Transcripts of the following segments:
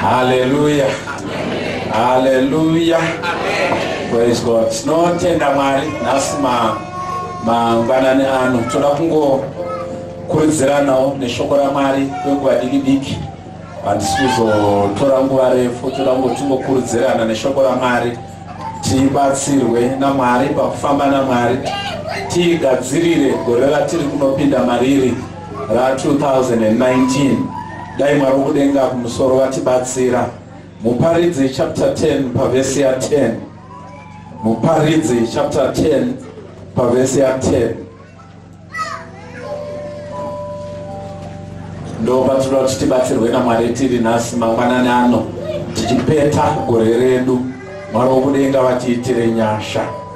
Hallelujah. Hallelujah. Praise God. Tinotenda Mwari nhasi ma mangwanani ano toda kungokurudziranawo neshoko raMwari kwenguva diki diki handisi kuzotora nguva refu toda kungotingokurudzirana neshoko raMwari tibatsirwe naMwari pakufamba naMwari tigadzirire gore ratiri kunopinda mariri ra 2019 dai mwari wokudenga kumusoro vatibatsira muparidzi chapter 10 pavhesi ya 10 muparidzi chapter 10 pavhesi ya 10 ndopatirwa kuti tibatsirwe namwari tiri nhasi mangwanani ano tichipeta gore redu mwari wokudenga vatiitire nyasha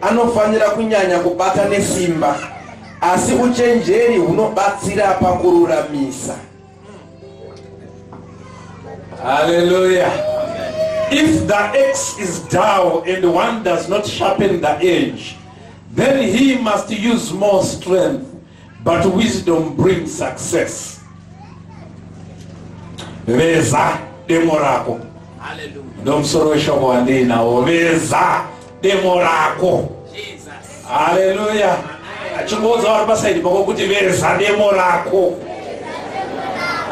anofanira kunyanya kubata nesimba, asi uchenjeri hunobatsira pakururamisa. Haleluya! If the axe is dull and one does not sharpen the edge, then he must use more strength. But wisdom brings success. Veza demo rako. Ndomsoro weshoko wandiinawo. Veza demo rako. Hallelujah. Achingoudza vari pasaidi pako kuti veza demo rako.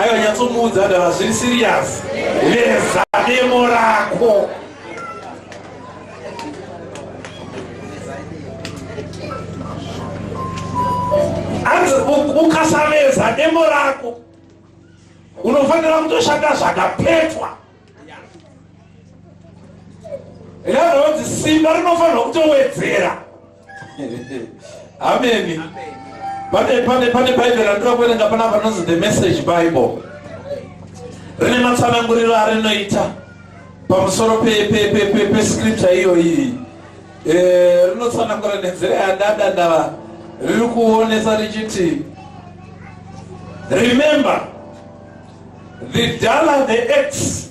Aiwa nyatsomuudza ndava zviri serious. Veza demo rako. ukasamedza demo rako unofanira kutoshanda zvakapetwa yaanonzi simba rinofanirwa kutowedzera Amen. Pane pane pane Bible randira kuerenga pana panonzi the message Bible. Rine matsananguriro arinoita pamusoro pe pe pe pe pe scripture iyo iyi. Eh rinotsanangura nenzira yadada ndava riri kuonesa richiti remember the dollar the x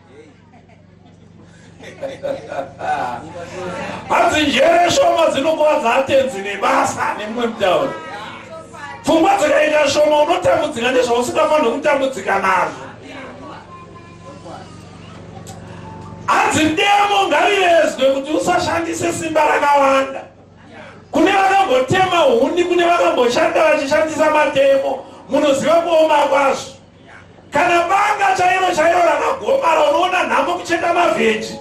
hanzi njere shoma dzinokuvadza atenzi nebasa nemumwe mutauro pfungwa dzikaita shoma unotambudzika nezvausingafanire kutambudzika nazvo hanzi demo ngarivezwe kuti usashandise simba rakawanda kune vakambotema huni kune vakamboshanda vachishandisa matemo munoziva kuoma kwazvo Kana banga chairo chairo rakagomara unoona nhamo kucheka mavheji.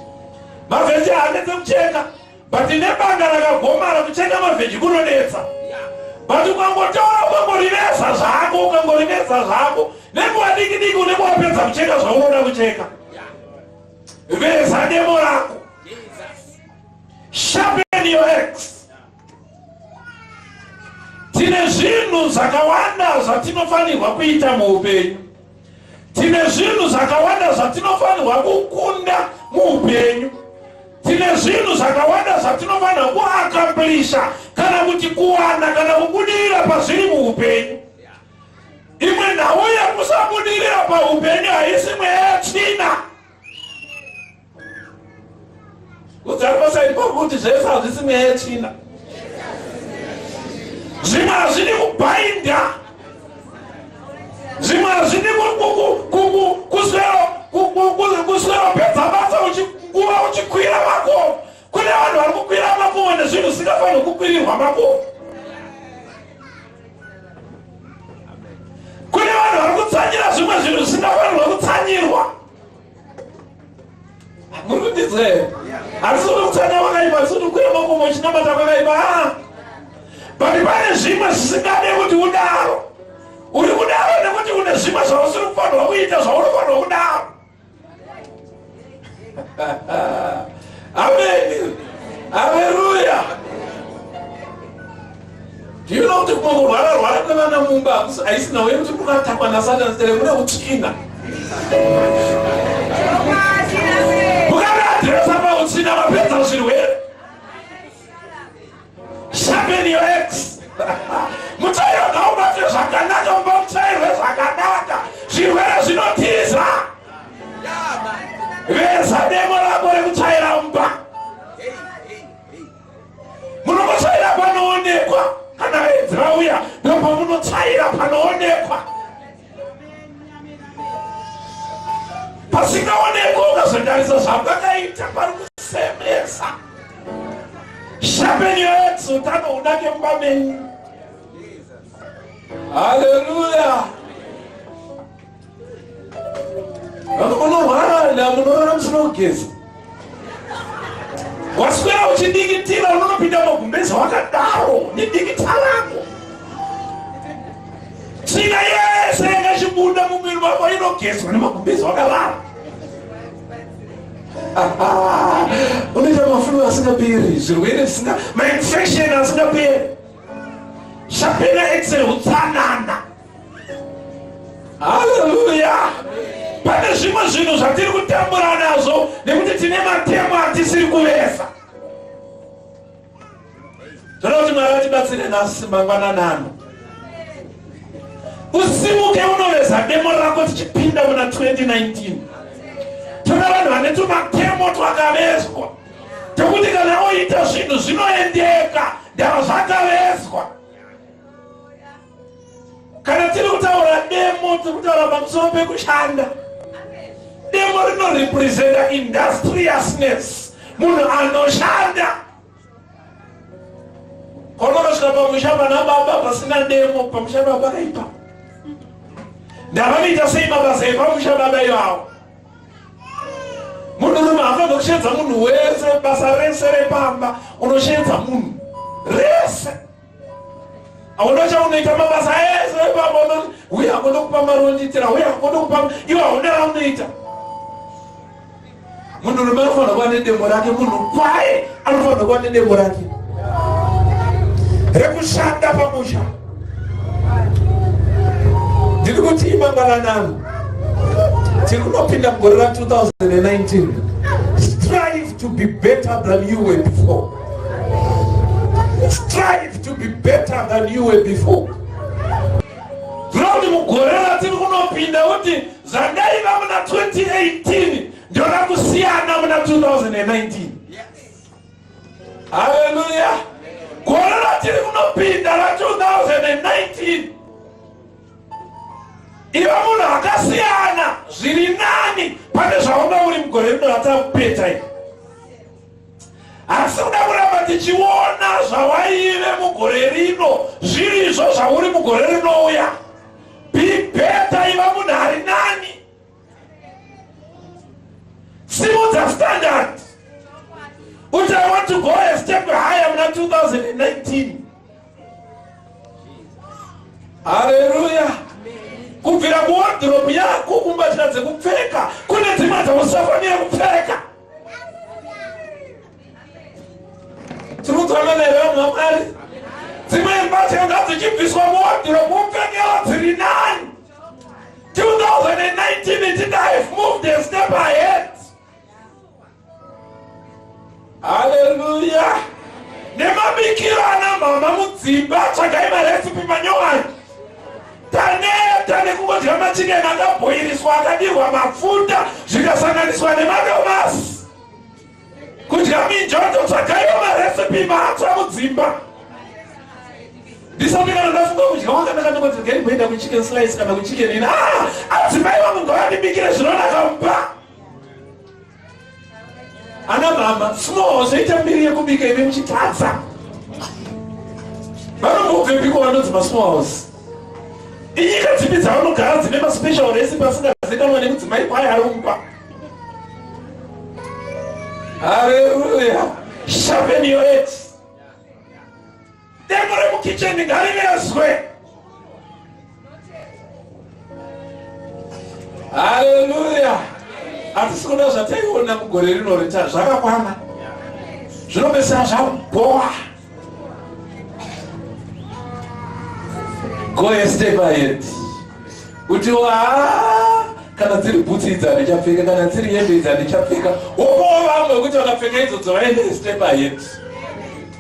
Mavheji haanetse kucheka but nebanga rakagomara kucheka mavheji kunonetsa. But ukangotaura ukangoriveza zvako ukangoriveza zvako nenguva diki diki unenge wapedza kucheka zvaunoda kucheka. Veza demo rako. Sharpen your axe. Tine zvinhu zvakawanda zvatinofanirwa kuita muupenyu. Tine zvinhu zvakawanda zvatinofanirwa kukunda muupenyu. Tine zvinhu zvakawanda zvatinofanirwa kuakamplisha kana kuti kuwana kana kubudirira pazviri muupenyu. Imwe nhau yekusabudirira paupenyu haisi mweya tsvina. udzaripasha ipapo kuti zvese hazvisi mweya yetsvina zvimwe hazvidi kubhainda zvimwe hazvidi kuswera pedza basa uchikuva uchikwira mako kune vanhu vari kukwira makomo nezvinhu zvisingafanirwi kukwirirwa makomo kune vanhu vari kutsanyira zvimwe zvinhu zvisingafanirwa kutsanyirwa muri kundinzwa here handisi kuti kutanga kwakaipa handisi kuti kukwira makomo uchinamata kwakaipa ah! but pane zvimwe zvisingade kuti udaro uri kudaro nekuti une zvimwe zvausiri kufanirwa kuita zvaunofanirwa kudaro ameni aleluya Ndinoona kuti kungorwara rwara kwevana mumba haisi nhau yekuti kukatakwa nasatani sere kune utsvina mukaadresa pautsvina mapedza zvirwere sharpen your ex mutsvairo ngaubatwe zvakanaka mumba mutsvairwe zvakanaka zvirwere zvinotiza veza demo rako rekutsvaira mumba munomutsvaira panoonekwa kana vaedzi vauya ndopamunotsvaira panoonekwa pasingaonekwa ukazondarisa zvamakaita pari kusemesa shapeni yoedzi utano hunake mumba menyu haleluya waswera uchidikitira unonopinda magumbeza wakadaro nedikita rako tsvina yese yakachibuda mumwiri wako inogezwa nemagumbeza wakadaro unoita mafulu asingaperi zvirwere zvisina mainfection asingaperi shapena excel utsanana haleluya pane zvimwe zvinhu zvatiri kutambura nazvo nekuti tine matemo atisiri kuvesa toda kuti mwari vatibatsire nhasi mangwananano usimuke unoveza demo rako tichipinda muna 2019 toda vanhu vane tumatemo twakavezwa tokuti kana oita zvinhu zvinoendeka ndava zvakavezwa kana tiri kutaura demo tiri kutaura pamusoro pekushanda demo rinorepresenta industriousness munhu anoshanda kwaunokasvika pamusha pana baba pasina demo pamusha baba kaipa ndavanoita sei mabasa epamusha baba ivawo munhu rume hafana kusheedza munhu wese basa rese repamba unosheedza munhu rese hauna chaunoita mabasa ese epamba uye hakoda kupa mari wondiitira uye hakoda kupa iwe hauna raunoita munhurume anofanira kuva nedemo rake munhu kwaye anofanira kuva nedemo rake rekushanda pamusha ndiri kuti imangalanano tiri kunopinda mugore ra 2019 strive to be better than you were before Strive to be better than you were before. Zvinoti mugore ratiri kunopinda kuti zvandaiva muna 2018 ndona kusiyana muna 2019. Haleluya! Gore ratiri kunopinda ra 2019 iva munhu akasiyana zviri nani pane zvaunga uri mugore rino ratakupeta iri asi kuda kuramba tichiona zvawaive mugore rino zviri izvo zvauri mugore rinouya bibeta iva munhu ari nani simudza standard uti i want to go a step higher muna 2019 haleluya kubvira kuwardrobe yako kumbatya dzekupfeka kune dzimwe dzausafanira kupfeka tikudzana neve vanhu vamwari dzimwe mbatya ngadzichibviswa muwadhiro mupfekero dziri nani 2019 ichida have moved a step ahead haleluya nemabikiro ana mhama mudzimba tsvagai maresipi manyowani Taneta nekungodya machicken akabhoiriswa akadirwa mafuta zvikasanganiswa nemadomasi. Kudya minjoto tsvagaiwo marecipe matsva mudzimba. Ndisati kana ndafunga kudya wanga ndakandokonzi ngei mboenda kuchicken slice kana kuchicken ina. Ah, adzimai vangu ngavandibikire zvinonaka mumba. ana mama small zvoita mbiri yekubika ive muchitadza vanombobvepiko vanonzi masmalls inyika dzipi dzavanogara dzine maspecial resi pasingazikamwa nekudzimai kwaye aromba haleluya sharpen your edge Demo remukicheni ngarivezwe. Haleluya. Hatisi kuda zvataiona mugore rino rita zvakakwana. Zvinopesera zvabhowa. Go a step ahead. Kuti waa kana dziri bhutsi idzi handichapfeka kana dziri hembe idzi handichapfeka wopowo vamwe kuti vakapfeka idzo dzovaende step ahead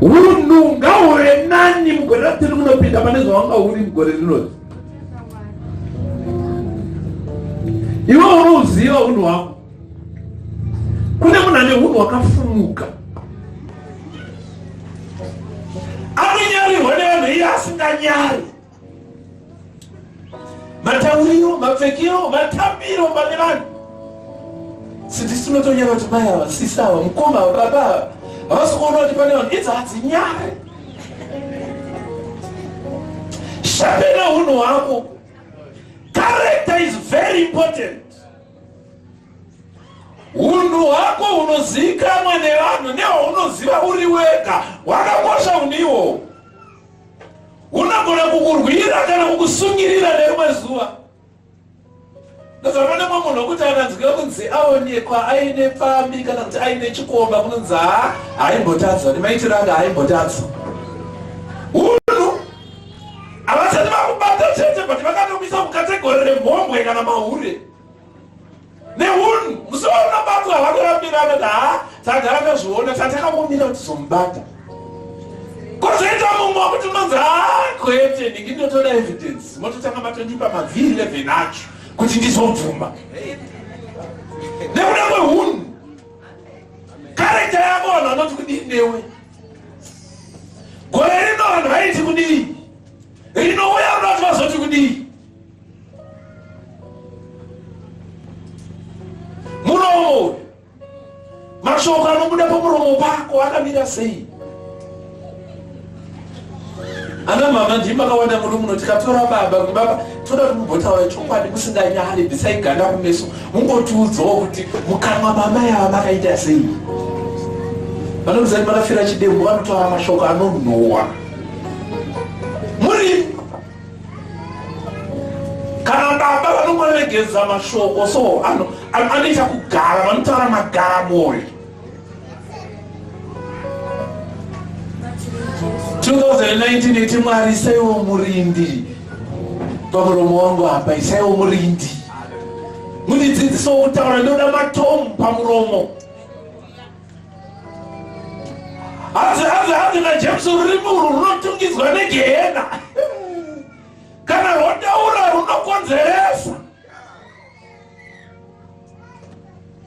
hunhu ngahuve nani mugore ratiri munopinda pane zvawanga huri mugore rinozi iwe unouziva hunhu hwako kune munhu ane hunhu hwakafumuka anonyarirwa nevanhu iye asinganyari matauriro mapfekero matambiro pane vanhu sindisi unotonyara kuti mai ava sisi ava mukoma ava baba ava havasi kuona kuti pane vanhu idzi hadzinyare shapena unhu hwako character is very important unhu hwako hunozivikanwa nevanhu nehwaunoziva uri wega hwakakosha unhu ihwohwo unogona kukurwira kana kukusungirira nerimwe zuva ndozvanoda mwe munhu wekuti akanzwika kunzi aonekwa aine pfambi kana kuti aine chikomba kunonzi haa haimbotadzwa nemaitiro anga haimbotadzwa unhu havasati vakubata chete but vakatomuisa mukategori remhombwe kana mahure nehunhu musi waunobatwa havana vambirana kuti haa tagara tazviona tatakambomira kuti zomubata kozoita mumwe wekuti unonzi haa kwete ndingi ndinotoda evidence mototanga matondipa mavhiri 11 acho kuti ndizobvuma nekuda kwehunhu karekta yako vanhu vanoti kudii newe gore rino vanhu vaiti kudii rinouya unoti vazoti kudii muromo mashoko anobuda pamuromo pako akamira sei ana mama ndii makawanda muno muno tikatora baba kuti baba toda kuti mumbotaura chokwadi musinganyari bisai ganda kumeso mungotiudzawo kuti mukamwa mama yava makaita sei vanozai makafira chidembo vanotaura mashoko anonhuwa kana baba vanomaregedza mashoko so ano anoita kugara vanotaura magara moyo 2019 iti mwari isaiwo murindi pamuromo wangu apa isaiwo murindi mundidzidzisawo kutaura ndoda matomu pamuromo hanzi hanzi hanzi najames rurimi urwu runotungidzwa negehena kana rwotaura runokonzeresa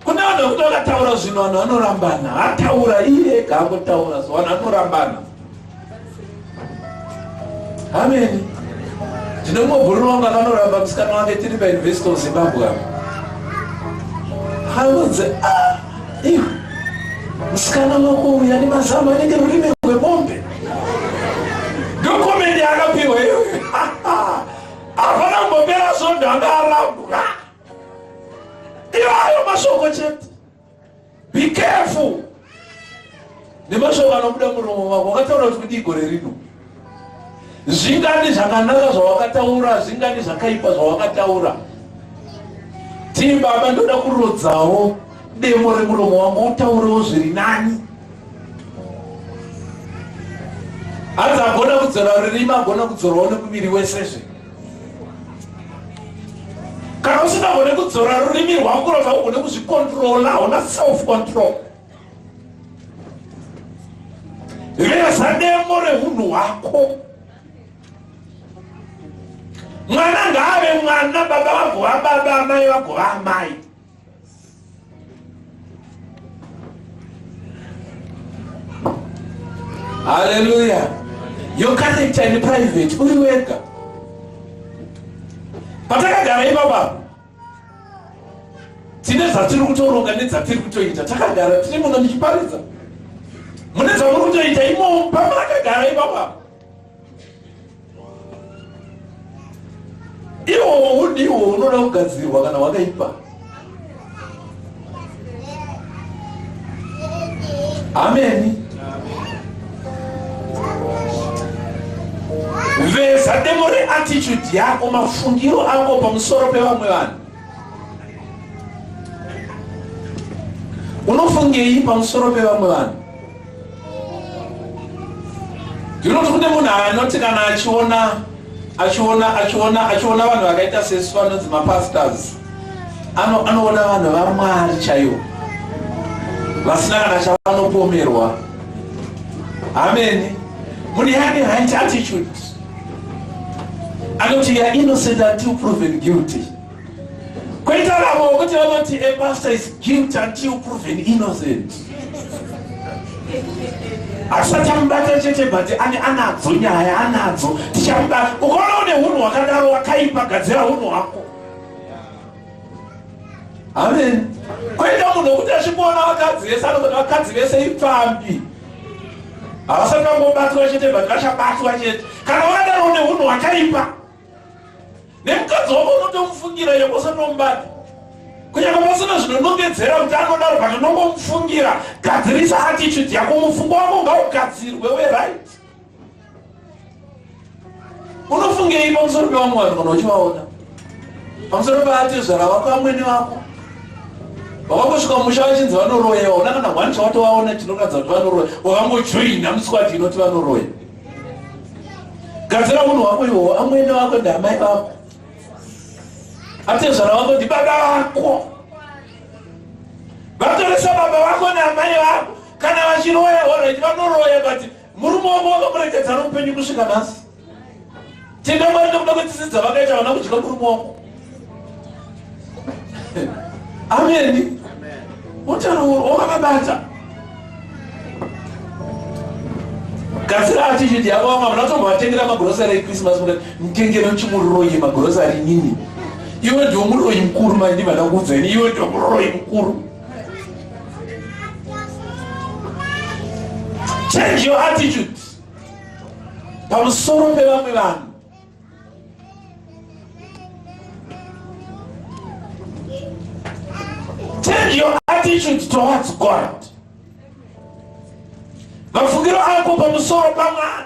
kune vanhu vekuti vakataura zvinhu vanhu vanorambana ataura iye ega angotaura so vanhu vanorambana ameni ndine mumwe bhururu wangu akanoramba musikana wake tiri pauniversity of zimbabwe apo akanzi ah, iwe musikana wako uya nemazamu anenge rurimi rwemombe ndokomende akapiwa iwe hapana kumbopera svondo anga arambwa iwayo mashoko chete Be careful nemashoko anobuda muromo wako wakataura kuti kudii gore rino zvingani zvakanaka zvawakataura zvingani zvakaipa zvawakataura tii baba ndoda kurodzawo demo remuromo wangu utaurewo zviri nani hanzi agona kudzora rurimi agona kudzorwawo nemuviri wesezve kana usingagone kudzora rurimi rwangu kurova haugone kuzvikontrola hauna self control veza demo reunhu hwako mwana ngaave mwana baba vagova baba amai vagova amai Hallelujah. Your character in private uri wega. Patakagara ipapa tine zvatiri kutoronga nedzatiri kutoita takagara tiri muno ndichiparidza mune zvamuri kutoita imomo pamakagara ipapa iwo hudi iwo unoda kugadzirwa kana wakaipa ameni veza demo reattitude yako mafungiro ako pamusoro pevamwe vanhu unofungei pamusoro pevamwe vanhu ndinoti kune munhu anoti kana achiona achiona achiona achiona vanhu vakaita sesu vanonzi mapastors anoona vanhu vamwari chaivo vasina kana chavanopomerwa ameni mune yake right attitude anoti you're innocent until proven guilty Koita vamwe vokuti vanoti a pastor is guilty until proven innocent. Hatisachamubata chete but ane anadzo nyaya anadzo tichamubata. Ukaona une hunhu hwakadaro wakaipa gadzira hunhu hwako. Amen. Koita munhu wokuti achikuona vakadzi vese anogona vakadzi vese ipfambi. Havasati vangobatwa chete but vachabatwa chete. Kana wadaro une hunhu hwakaipa. nemukadzi wako unotomufungira iye kwosatombati kunyama pasina zvinonongedzera kuti anodaro but unongomufungira gadzirisa attitude yako mufungo wako ngaugadzirwe weright unofungei pamusoro pevamwe vanhu kana uchivaona pamusoro paatezvara wako amwene vako vakangosvika musha vachinzi vanoroyewa una kana one chawatovaona chinoratidza kuti vanoroya wakangojoina muswati inoti vanoroya gadzira munhu wako iwowo amwene wako ndiamai vako atezvara wako ndibaba vako vatoresa baba vako naamai vako kana vachiroya oreti vanoroya but murume wako wakamuregedzana upenyu kusvika nhasi Tenda Mwari nekuda kwetsitsi dzavakaita vana kudya muri muoko. Ameni. Utano huru hwakabata. Gadzira attitude yavo vamwe vanhu vatovatengera magrosari eChristmas kuti mutengere chimuroyi magrosari nini. Iwe ndiwo muroyi mukuru manje ndivada kuudzwa ini iwe ndiwo muroyi mukuru. Change your attitude. pamusoro pevamwe vanhu change your attitude towards god mafungiro ako pamusoro pamwana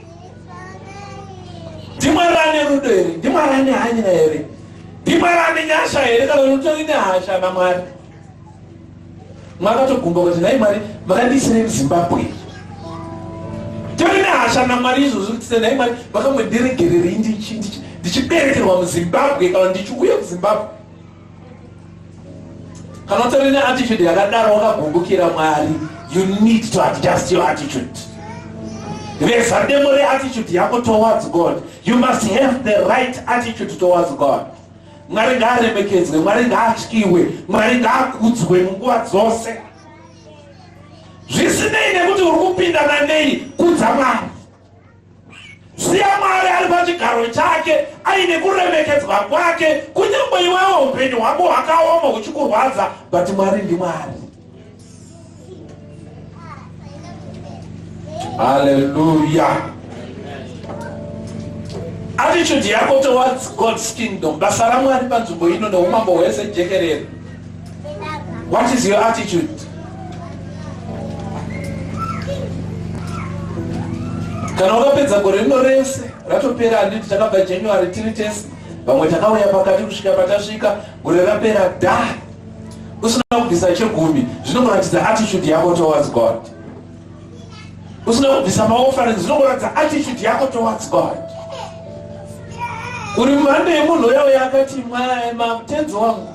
ndimwari ane rudo here ndimwari ane hanya here ndimwari ane nyasha here kana unotori nehasha namwari makatogumba kuti nhai mwari makandiisirei muzimbabwe tori nehasha namwari izvozvi kuti senhai mwari vakamwendiregererei ndichiberekerwa muzimbabwe kana ndichiuya kuzimbabwe kana utori neattitude yakadaro wakagumbukira mwari you need to adjust your attitude veza demo reattitude yako towards god you must have the right attitude towards god mwari ngaaremekedzwe mwari ngaatyiwe mwari ngaakudzwe munguva dzose zvisinei nekuti uri kupindana nei kudza mwari Siya Mwari ari pachigaro chake aine kuremekedzwa kwake, kunyange iwewo upenyu hwako hwakaoma huchikurwadza, but Mwari ndiMwari. Hallelujah. Attitude yako towards God's kingdom, basa raMwari panzvimbo ino neumambo hwese jekerere. What is your attitude? Kana wakapedza gore rino rese ratopera handiti takabva January tiri tese vamwe takauya pakati kusvika patasvika gore rapera da usina kubvisa chegumi zvinongoratidza attitude yako towards God usina kubvisa maofferings zvinongoratidza attitude yako towards God uri mhando yemunhu uya uya akati mwae mamutenzi wangu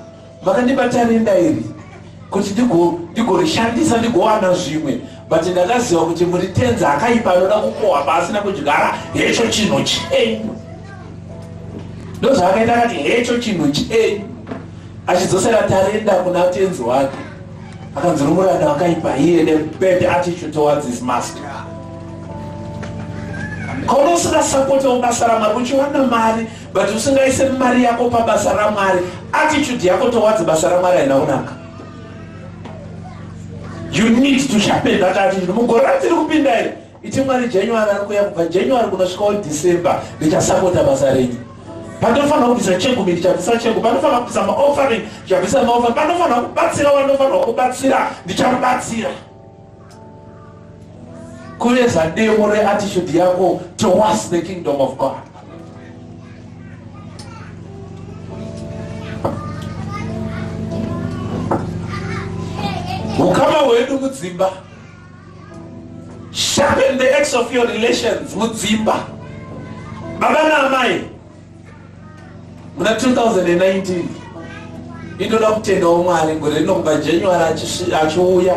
Vakandibata rinda iri kuti ndigorishandisa ndigowana zvimwe but ndakaziva kuti muri tenzi akaipa anoda kukohwa pasi nekudyara hecho chinhu chenyu ndozvaakaita akati hecho chinhu chenyu achidzosera tarenda kuna tenzi wake akanzi nomuranda wakaipa iye nebad attitude towards his master kaunosingasapotawo basa ramari uchiwana mari but usingaise mari yako pabasa ramwari attitude yako towards basa ramwari haina kunaka you need to sharpen that attitude mugore ratiri kupinda iri iti mwari january ari kuya kubva january kunosvikawo december ndichasapota basa renyu panofanira kubvisa chegu mi ndichabvisa chegu panofanira kubvisa maoffering ndichabvisa maoffering panofanira kubatsira wanofanirwa kubatsira ndichamubatsira Kureza demo reattitude yako towards the kingdom of God. Ukama hwedu mudzimba. Sharpen the edge of your relations mudzimba. Baba na amai muna 2019 inoda kutendawo mwari gore rino kubva january achiuya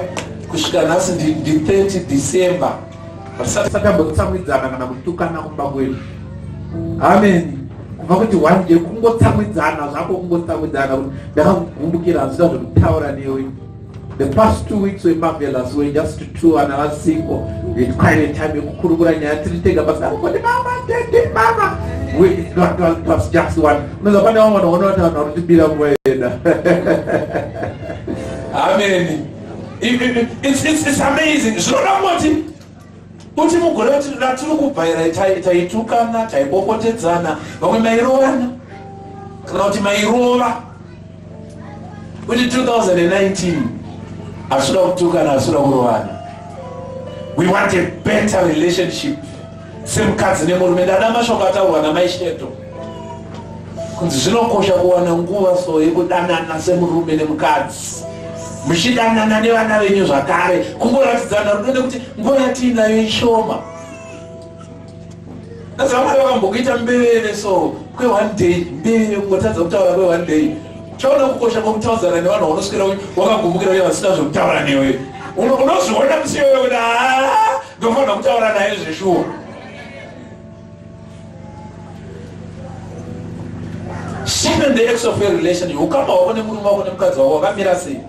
kusvika nhasi ndi 30 december hatisati satambotsamwidzana kana kutukana kumba kwedu amen kuva kuti one day kungotsamwidzana zvako kungotsamwidzana kuti ndakakugumbukira hazvita zvekutaura newe The past two weeks were marvelous, we were just two and I was single. We had quite a time yekukurukura nyaya tiri tega basi kuti mama tete mama. We it was, it was just one. Unaweza pane wamwe wanaona kuti vanhu vanotibira nguva yeda. Amen. It, it, it's, it's, it's amazing. Zvinoda kuti Kuti mugore ratiri kubhairai taitukana, taibokotedzana, vamwe mairovana kana kuti mairova kuti 2019 hasuda kutukana hasuda kurovana we want a better relationship semukadzi nemurume ndada mashoko ataurwa namaisheto kunzi zvinokosha kuwana nguva so yekudanana semurume nemukadzi muchidanana nevana venyu zvakare kungoratidzana rudo nekuti nguva yatiinayo ishoma azamwari vakambokuita mbeveve so kweone day mbeveve kungotadza kutaura kweone day chaona kukosha kwokutaudzana nevanhu vaunoswera wakagumukira uye vasina zvekutaura newe unozviona musiwewe kuti haa ndofanira kutaura naye zveshuwa Shame and the ex of a relation hukama hwako nemurume wako nemukadzi wako wakamira sei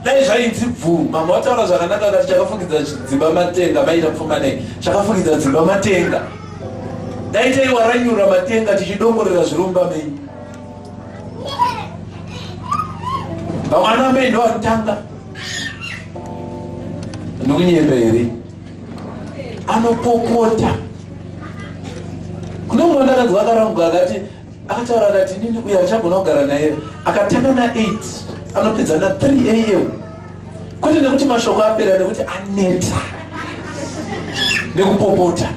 dai zvainzi bvuu mama wataura zvakanaka kati chakafukidza dzimba matenga maita pfuma nei chakafukidza dzimba matenga dai taiwaranyura matenga tichidongorera zviromba mei vamwana mei ndovatanga ndikunyemba here anopopota kune mwana akadzi wakarambwa akati akataura akati nini uye achagona kugara naye akatanga na 8 anopedza na 3 am kwete nekuti mashoko apera nekuti aneta nekupopota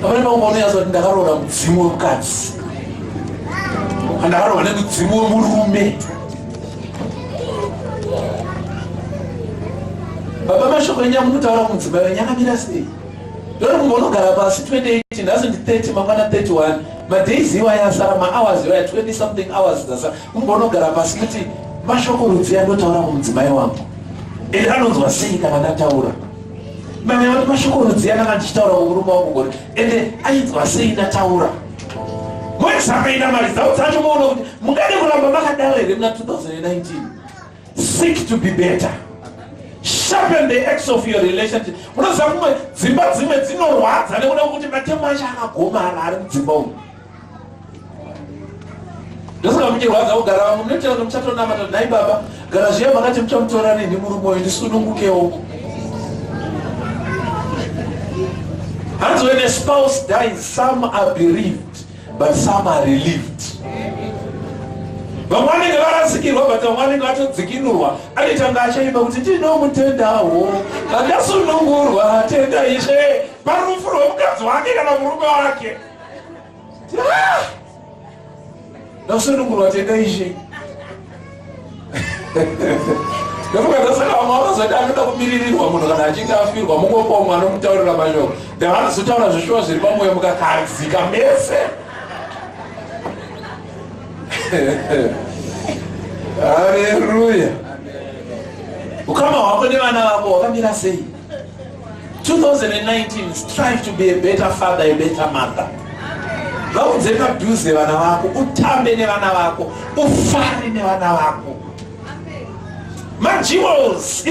Pamene pangu paunoyazwa kuti ndakaroora mudzimu wemukadzi andakaroora nemudzimu wemurume baba mashoko enyu amunutaura kumudzimba wenyu akamira sei ndori kumba unogara pasi 28 nhasi ndi 30 mangwana 31 madays iwaye asara mahours iwaye 20 something hours dzasa kumba unogara pasi kuti mashoko rudziya ndotaura kumudzimai wangu ende anonzwa sei kana ndataura Mama vari mashoko rudziya kana ndichitaura kukuruma kugona ende ainzwa sei ndataura mwezvakaita mari dzau dzacho maona kuti mungade kuramba makadaro here muna 2019 seek to be better sharpen the ex of your relationship munoziva kumwe dzimba dzimwe dzinorwadza nekuda kwekuti matemo acho akagomara ari mudzimba umu ndofunga muchirwadza kugara vamwe munotaura kuti muchatonamata kuti nhai baba gara zviya makati muchamutora rini murume uyu ndisunungukewo hanzi when a spouse dies some are bereaved but some are relieved vamwe vanenge varasikirwa but vamwe vanenge vatodzikinurwa anitanga achaimba kuti ndinomutendawo kandasunungurwa tenda ishe parufu rwemukadzi wake kana murume wake ndakusendokunwa tenda ishe ndokukatasaka vamwe vanozoti anoda kumiririrwa munhu kana achinge afirwa mungomba umwe anomutaurira mashoko then vanozotaura zvishuwa zviri pamoyo mukakadzika mese haleluya ukama hwako nevana vako wakamira sei 2019 strive to be a better father a better mother vaudze padhuze vana vako utambe nevana vako ufare nevana vako majewels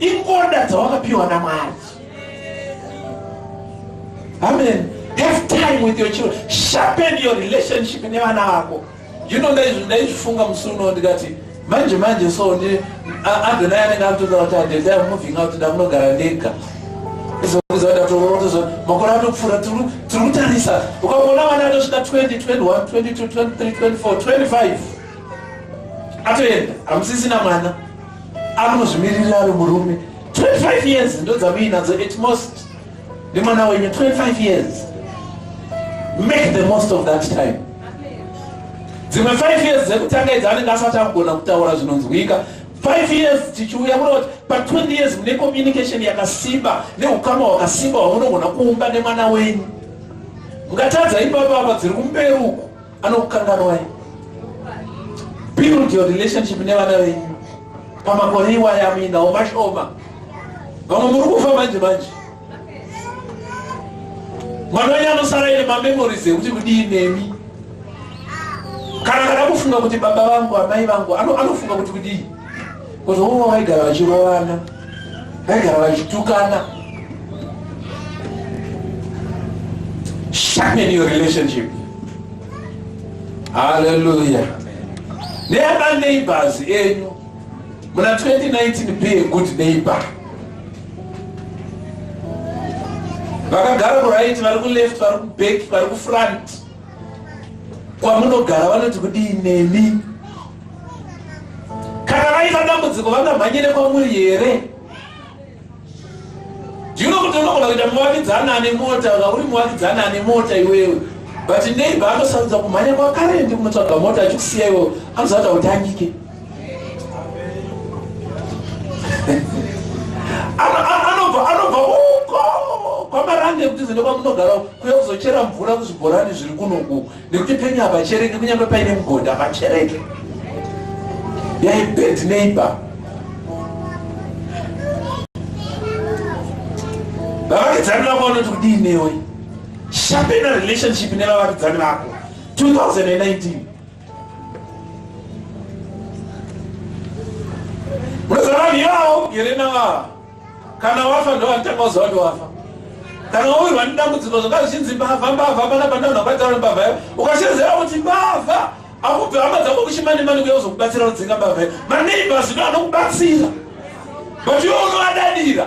ingoda dzawakapiwa namwari amen have time with your children sharpen your relationship nevana vako you know ndaizvifunga musi uno ndikati manje manje so ndi adonai anenge amutodza kuti adendai moving out ndamunogara ndega makore atopfuura tiri kutarisa ukaona vana atosvika 202122232425 atoenda hamusisina mwana amunozvimiririra ari murume 25 years ndodzamuinadzo at most Ndi mwana wenyu 25 years. Make the most of that time. Dzimwe 5 years dzekutanga idzi anenge asati akugona kutaura zvinonzwika. 5 years tichiuya kuda kuti pa 20 years mune communication yakasimba neukama hwakasimba hwamunogona kuumba nemwana wenyu. Mungatadza ipapo apa dziri kumberi uku. anokukanganwai build your relationship nevana venyu pamakore iwaya amuinawo mashoma vamwe muri kufa manje manje mwana wenyu anosara ine mamemories ekuti kudii nemi kana kana kufunga kuti baba vangu amai vangu anofunga kuti kudii Kozi vamwe vaigara vachirovana, vaigara vachitukana. Sharpen your relationship. Hallelujah. Never neighbors enyu. Muna 2019 be a good neighbor. Vakagara ku right, vari ku left, vari ku back, vari ku front. kwamunogara vanoti kudii nemi kana vaita dambudziko vangamhanyire kwamuri here ndino kuti unogona kuita muvakidzana ane mota ka uri muvakidzana ane mota iwewe but neiba anosarudza kumhanya kwakare ndikunotsvaga mota achikusiya iwo anozata utangike kutiza nekwamunogara kuya kuzochera mvura kuzvibhorani zviri kunoku nekuti penyu havachereke kunyange paine mugodhi havachereke yai bad neighbor vavakidzani vako vanoti kudii newe shapena relationship nevavakidzani vako 2019 yao yerena vava kana wafa ndovatanga uziva kuti wafa kana wawirwa nedambudziko zvanga zvichinzi mbavha mbavha pana pandaona kwataura mbavha yo ukashezera kuti mbavha akubve hama dzako kuchimani mani kuya kuzokubatsira kudzinga mbavha yo maneiba zvino anokubatsira but iwe unoadadira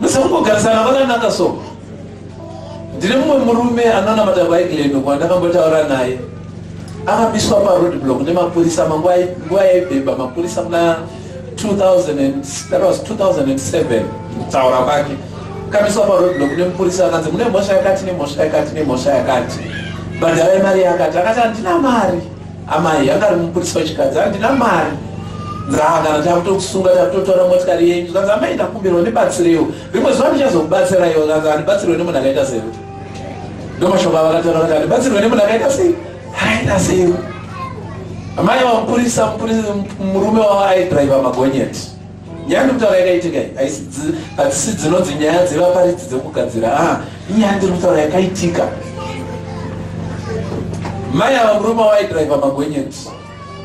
musakungogarisana vakanaka so ndine mumwe murume anonamata vaigileno kwandakambotaura naye akamiswa paroad block nemapurisa manguva yaibheba mapurisa muna 2007 kutaura kwake kamiswa paroad block nemupurisa akanzi mune mhosva yakati nemhosva yakati nemhosva yakati bhadharai mari yakati akati handina mari Amai anga ari mupurisa wechikadzi handina mari nzaa kana takutokusunga takutotora motikari yenyu zvikanzi amai ndakumbirwa ndibatsirewo rimwe zuva ndichazokubatsiraiwo zvikanzi handibatsirwe nemunhu akaita sei ndomashoko avakataura kuti handibatsirwe nemunhu akaita sei akaita sei amai vamupurisa murume wavo aidriva magonyeti Nyaya ndikutaura yakaitika iyi haisi hadzisi dzinonzi nyaya dzevaparidzi dzekugadzira a ah, inyaya ndiri kutaura yakaitika mai ava murume waidriva magonyeti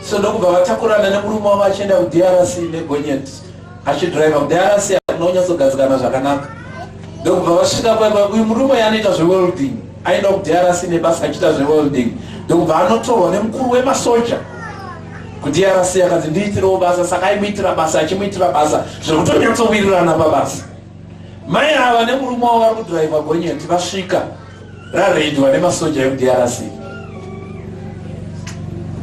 so ndokubva vatakurana nemurume wavo achienda kudrc negonyeti achidriva kudrc akuna kunyatsogadzikana zvakanaka ndokubva vasvika paipa uyu murume yaanoita zvewelding aenda kudrc nebasa achiita zvewelding ndokubva anotorwa nemukuru wemasoja kudrc akanzi ndiitirewo basa saka aimuitira basa achimuitira basa zvekutonyatsowirirana pabasa mai ava nemurume wavo vari kudhiraivha gonyeti vasvika rareidwa nemasoja ekudrc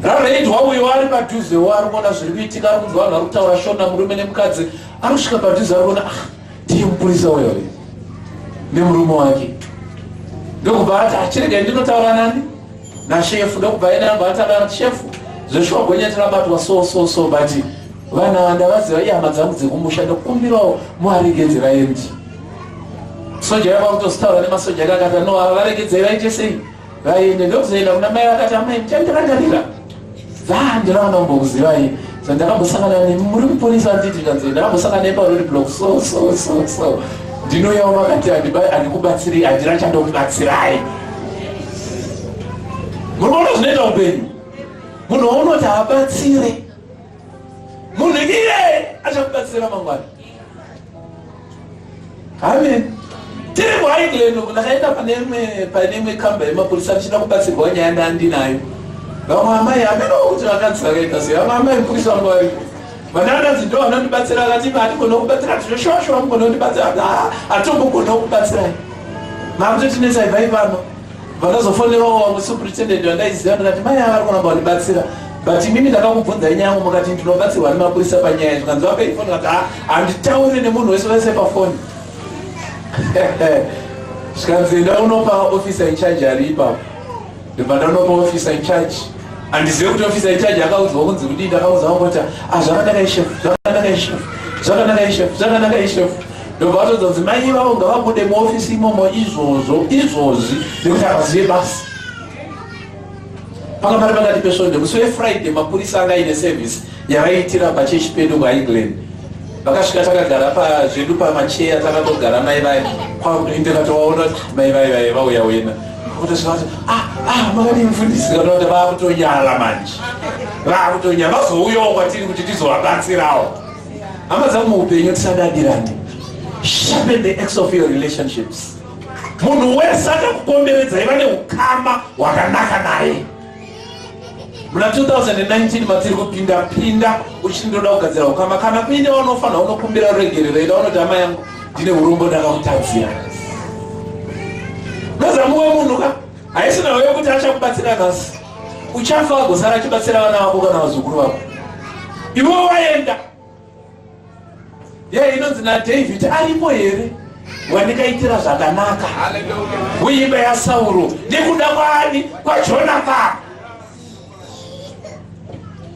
rareidwa uyo ari padhuzewo ari kuona zviri kuitika ari kunzwa vanhu vari kutaura shona murume nemukadzi ari kusvika padhuze ari kuona ah, Ndiye mupurisa uyo uyo nemurume wake ndokubva ati achirega ndinotaura nani nashefu ndokubva yena amba ataura shefu zveshuwa gonyeti rabatwa so so so but vana vandavaziva ihama dzangu dzekumusha ndokumbirawo muvaregedzera endi soja yava kutositaura nemasoja kakata no varegedzera ichesei vaende ndokuzoenda kuna mai vakati amai muchandirangarira zaa ndiraona kumbokuzivai so ndakambosangana nemi muri muponisi anditi kanzi ndakambosangana nemi parori blok so so so so ndinoyawo vakati handikubatsiri handina chandokubatsirai muri kuona zvinoita upenyu munhu waunoti haabatsire munhu iye achakubatsira mangwana amen tiri kuhaigland ndakaenda pane imwe pane imwe kamba yemapurisa ndichida kubatsirwa nyaya ndandinayo vamwe amai ameno kuti vakanzi vakaita sei vamwe amai mupurisa vangu variko vanananzi ndo vanondibatsira akati imi hatigona kubatsira tinoshosho vamugona kundibatsira hatigona kubatsirai makutotinetsai vai pano vakazofonerawo vamwe superintendent vandaiziva ndikati mai ava vari kuramba vandibatsira but imimi ndakakubvunzai nyaya yangu mukati ndinobatsirwa nemapurisa panyaya izvi kanzi vapei foni kati ah, handitaure nemunhu wese vese pafoni zvikanzi enda unopa officer incharge ari ipapo ndibva ndanopa officer incharge handizive kuti officer incharge akaudzwa kunzi kudii ndakaudzwa kuti azvakanaka ah, ishefu zvakanaka ishefu zvakanaka ishefu zvakanaka ishefu ndobva vatodza kuti mai ivavo ngavabude muofisi imomo izvozvo izvozvi nekuti havazive basi panga pari pakati pesvondo musi wefriday mapurisa anga aine service yavaiitira pachechi pedu kuengland vakasvika takagara pazvedu pamacheya takatogara mai vaye kwakutoinde katovaona kuti mai vaye vaye vauya wena kutosvikati ah, ah, makadii mfundisi katoa kuti vakutonyala manje vakutonyala vazouyawo kwatiri kuti tizovabatsirawo hama dzangu muupenyu tisadadirane sharpen the ex of your relationships munhu wese akakukomberedza iva neukama hwakanaka naye muna 2019 matiri kupinda pinda uchindoda kugadzira ukama kana kuine wanofanira unokumbira ruregerero ida unoti hama yangu ndine urombo ndakakutadzira nozamuwe munhu ka haisina hoyo kuti achakubatsira nhasi uchafa wagosara achibatsira vana vako kana vazukuru vako iwo waenda ye inonzi nadavid aripo here wandikaitira zvakanaka kuimba yasauro nekuda kwaani kwajonathan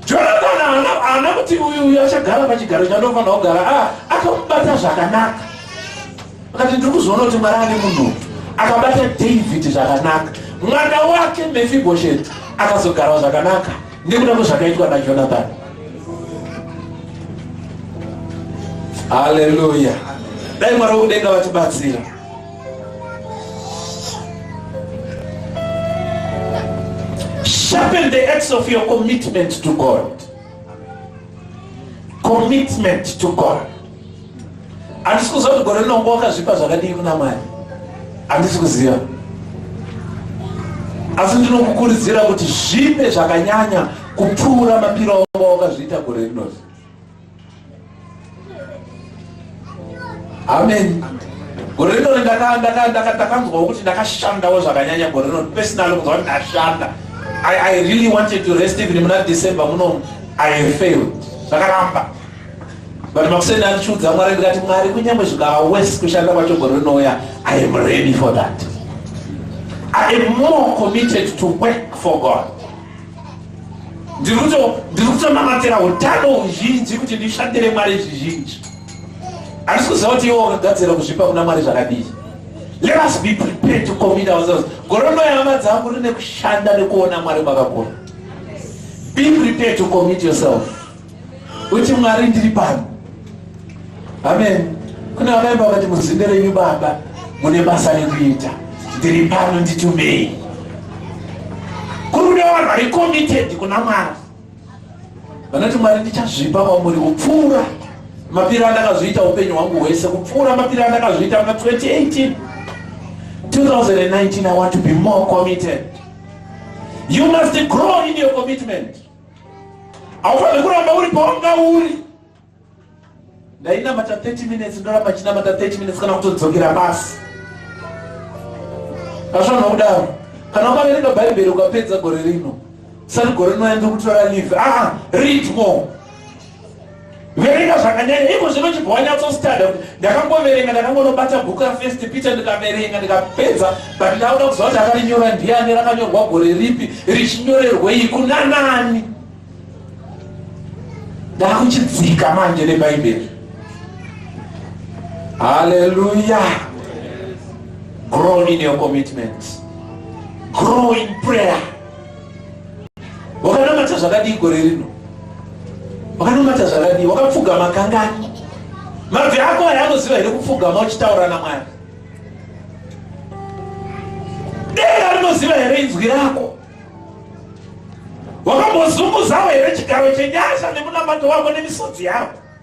jonathan haana kuti uyu uyu achagara pachigaro chandofanira kugara ah, akamubata zvakanaka Vakati ndiri kuzoona kuti Mwari ane munhu akabata David zvakanaka, mwana wake Mefibhosheti akazogarwa zvakanaka nekuda kwezvakaitwa naJonathani. Haleluya! Dai Mwari wokudenga vatibatsira. Sharpen the edge of your commitment to God. Commitment to God. handisi kuziva kuti gore rinongo wakazvipa zvakadii kuna mwari handisi kuziva asi ndinokukuridzira kuti zvipe zvakanyanya kupfuura mapiro anga wakazviita gore rinoti amen gore rino ndakanzwawo kuti ndakashandawo zvakanyanya gore rino personal kunzwa kuti ndashanda i really wanted to rest even muna december muno i failed zvakaramba But makuseni andichiudza Mwari ndikati Mwari kunyangwe zvikava worse kushanda kwacho gore rinouya I am ready for that. I am more committed to work for God. Ndiri kutonamatira utano huzhinji kuti ndishandire Mwari zvizhinji. Handisi kuziva kuti iwo wakagadzira kuzvipa kuna Mwari zvakadii. Let us be prepared to commit ourselves. Gore rinouya hama dzangu rine kushanda nekuona Mwari kwakakura. Be prepared to commit yourself. uti mwari ndiri pano amen kune vakaimba vakati muzinde renyu baba mune basa rekuita ndiri pano nditumei kuruda vanhu vari committed kuna mwari vanoti mwari ndichazvipa kwamuri kupfuura mapiro andakazviita upenyu hwangu hwese kupfuura mapiro andakazviita muna 2018 2019 i want to be more committed you must grow in your commitment haufanire kuramba uri pawanga uri ndainamata 30 minutes ndoramba chinamata 30 minutes kana kutodzokera basi asvana kudaro kana ukaverenga bhaibheri ukapedza gore rino sati gore rinoenda kutora live aa ah, read more verenga zvakanyanya iko zvino chibva wanyatsostuda kuti ndakangoverenga ndakangonobata bhuku rafirst peter ndikaverenga ndikapedza but ndauda kuziva kuti akarinyora ndiani rakanyorwa gore ripi richinyorerwei kuna nani ndakuchidzika manje nebhaibheri haleluya grow in your commitment grow in prayer wakanamata zvakadii gore rino wakanamata zvakadii wakapfugama kangani mabvi ako aya anoziva here kupfugama uchitaura namwari denga rinoziva here inzwi rako wakambozunguzawo here chigaro chenyasha nemunamato wako nemisodzi yako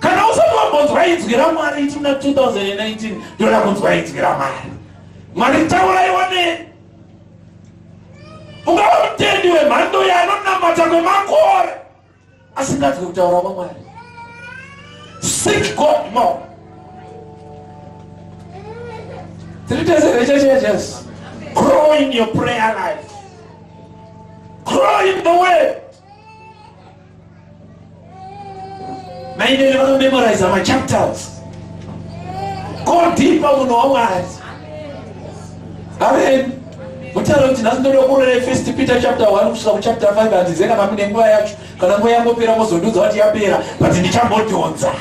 kana usati wambonzwa inzwi ramwari ichi muna 2019 ndoda kunzwa inzwi ramwari mwari tauraiwa ne ungava mutendi wemhando yanonamata kwemakore asinganzwi kutaura kwamwari seek god more three days of churches grow in your prayer life grow in the way mainini vanomemoriza machapters kodhipa munhu wamwari amen mutaura kuti nhasi ndoda kurere first peter chapter 1 kusvika kuchapter 5 handizive kana mune nguva yacho kana nguva yangopera mozondiudza kuti yapera but ndichambodhonza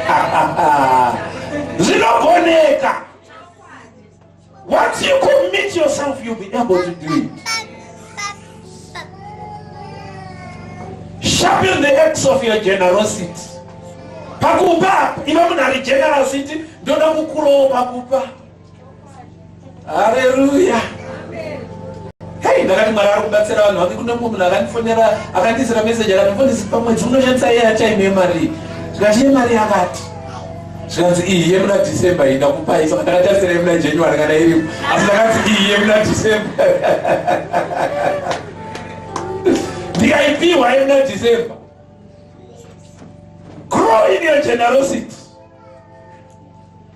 ah, ah, ah. zvinogoneka Once you commit yourself, you'll be able to do it. Sharpen the axe of your generosity. Pakupa, iwe munhu ari generosity, ndoda kukurowo pakupa. Hallelujah. Hey, ndakati Mwari ari kubatsira vanhu vange kune mumwe munhu akandifonera akandiisira message akati mfundisi pamwedzi unoshandisa yeye achaine mari. Zvikachiye mari yakati. zvikanzi iyi yemuna december iyi ndakupai saka ndakatarisira yemuna january kana iripo asi ndakanzi iyi yemuna december ndikaipiwa yemuna december grow in your generosity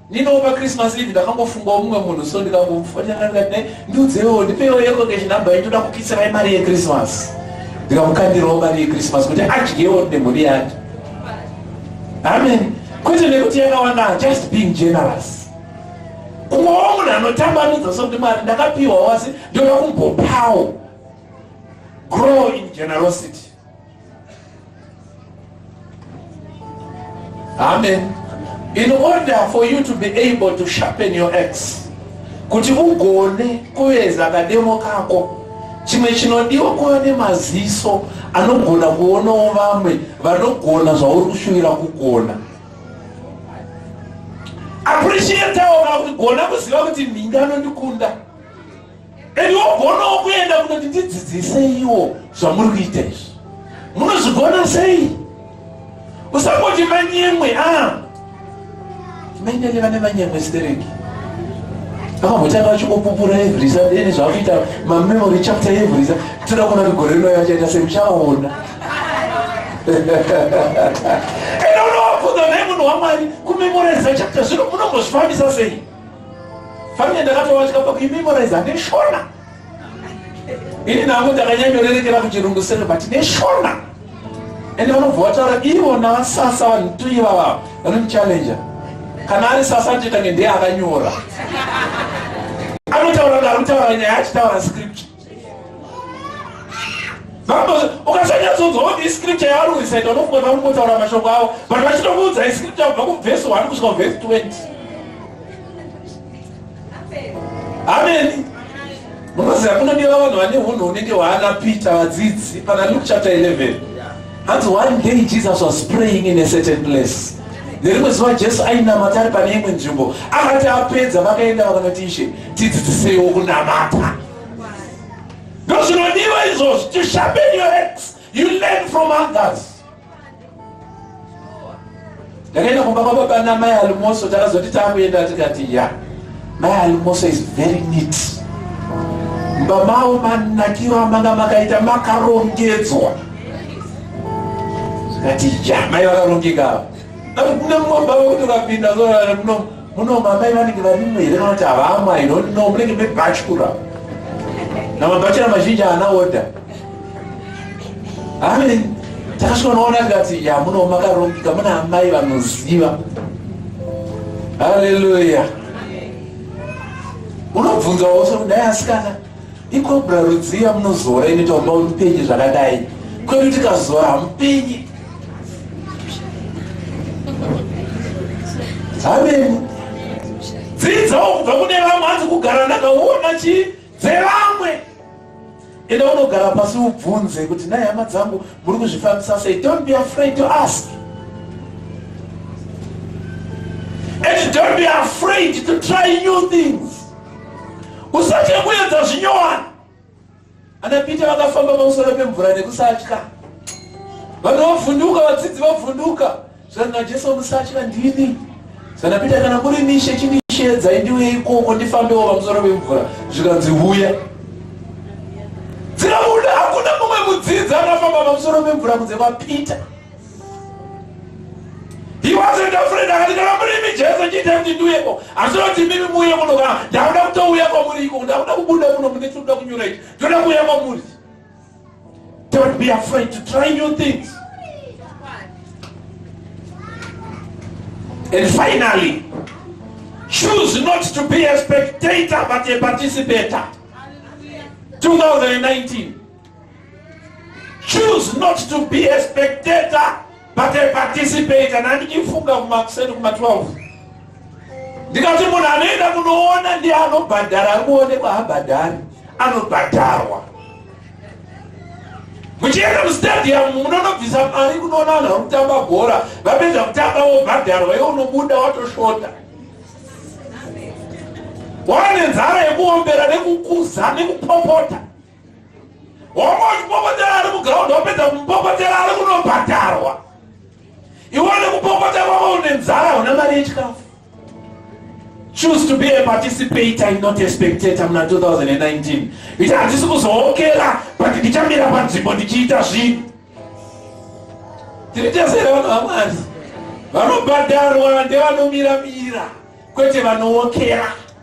ndinopa christmas eve ndakangofunga umwe munhu so ndikamufonyakanane ndiudzewo ndipewo yekokeshi number yetoda kukitsirai mari yechristmas ndikamukandirawo mari yechristmas kuti adyewo nemhuri yake amen kwete nekuti yakawanda just being generous kuvawo munhu anotambanudza sokuti mwari ndakapiwa wasi ndoda kumbopawo grow in generosity amen in order for you to be able to sharpen your ex kuti ugone kuveza kademo kako chimwe chinodiwa kuva nemaziso anogona kuonawo vamwe vanogona zvauri kushuvira kugona appreciatawo vakugona kuziva kuti nhingi anondikunda and wogonawo kuenda kunoti ndidzidziseiwo zvamuri kuita izvi munozvigona sei usangoti manyemwe a ah. Mainini vane manyama stereki vakambotanga vachingopupura every Sunday ene zvavakuita mamemory chapter every Sunday toda kuona kuti gore rinoya vachaita sei muchaona ende unovabvunza naye munhu wamwari kumemoriza chapter zvino munombozvifambisa sei famine ndakatovatya pakuimemoriza neshona ini nangu ndakanyanyorerekera kuchirungu sero but neshona ende vanobva vataura ivona vasasa vanhu tu ivava vanomuchallenja kana ari sasa anotoitange ndeye akanyora anotaura ngaanotaura nyaya achitaura script ukasanyatsoudza woti iscripture yaari kuisaita unofunga kuti vanongotaura mashoko avo but vachitokuudza iscripture kubva kuvhesi one kusvika kuvhesi twenty ameni munoziva kunodiwa vanhu vane hunhu hunenge hwaana peter vadzidzi pana luke chapter 11 hanzi one day jesus was praying in a certain place nerimwe zuva jesu ainamata ari pane imwe nzvimbo akati apedza vakaenda vakanoti ishe tidzidziseiwo kunamata ndozvinodiwa izvozvo tishambe your ex You learn from others. Ndakaenda kumba kwababa namai Almoso takazoti takuenda tikati ya. Mai Almoso is very neat. Mba mavo manakiro amanga makaita makarongedzwa. Ndati ya mai vakarongeka. Ari kune mumba vekuti ukapinda zora muno Muno mamai vanenge varimo here kana kuti havamwa ino no munenge mebhachura na mabhachura mazhinji haana order. Amen. Takasvika noona tikati ya muno makarongeka muna amai vanoziva. Hallelujah. Unobvunza wose kudai asikana ikobra rudziya munozora inoita kuti mupenye zvakadai kwedu tikazora hamupenye ameni dzidzawo kubva kune vamwe hanzi kugara ndakaona chi dzevamwe enda unogara pasi ubvunze kuti nai hama dzangu muri kuzvifambisa sei don't be afraid to ask and don't be afraid to try new things usatye kuedza zvinyowani Ana Peter vakafamba pamusoro pemvura nekusatya. Vanhu vovhunduka, vadzidzi vovhunduka. Zvanzi naJesu, musatya ndini. Zvana Peter, kana kuri mishe chindishedza indiuye ikoko ndifambewo pamusoro pemvura. Zvikanzi huya. Dzirabuda hakuna mumwe mudzidzi akafamba pamusoro pemvura kunze kwaPeter. He wasn't afraid akati ndakamurimi Jesu ndiita kuti ndiuyeko asi unoti mimi muuye muno kana ndakuda kutouya kwamuri iko ndakuda kubuda muno mune tinoda kunyura ichi ndoda kuuya kwamuri don't be afraid to try new things and finally choose not to be a spectator but a participator 2019 Choose not to be a spectator but a participator. Nandichifunga kumakuseni kuma 12 ndikati munhu anoenda kunoona ndiye anobhadhara ari kuonekwa habhadhari anobhadharwa muchienda mustadium munonobvisa mari kunoona vanhu vari kutamba bhora vapedza kutamba wobhadharwa iwe unobuda watosvota wane nzara yekuombera nekukuza nekupopota Hombo kupopotera ari muground wapedza kumupopotera ari kunobhadharwa. Iwe nekupopota kwavo une nzara hauna mari yechikafu. Choose to be a participator and not a spectator muna 2019. Iti handisi kuzookera but ndichamira panzvimbo ndichiita zvinhu. Tiri tese here vanhu vaMwari? Vanobhadharwa ndevanomira mira kwete vanookera.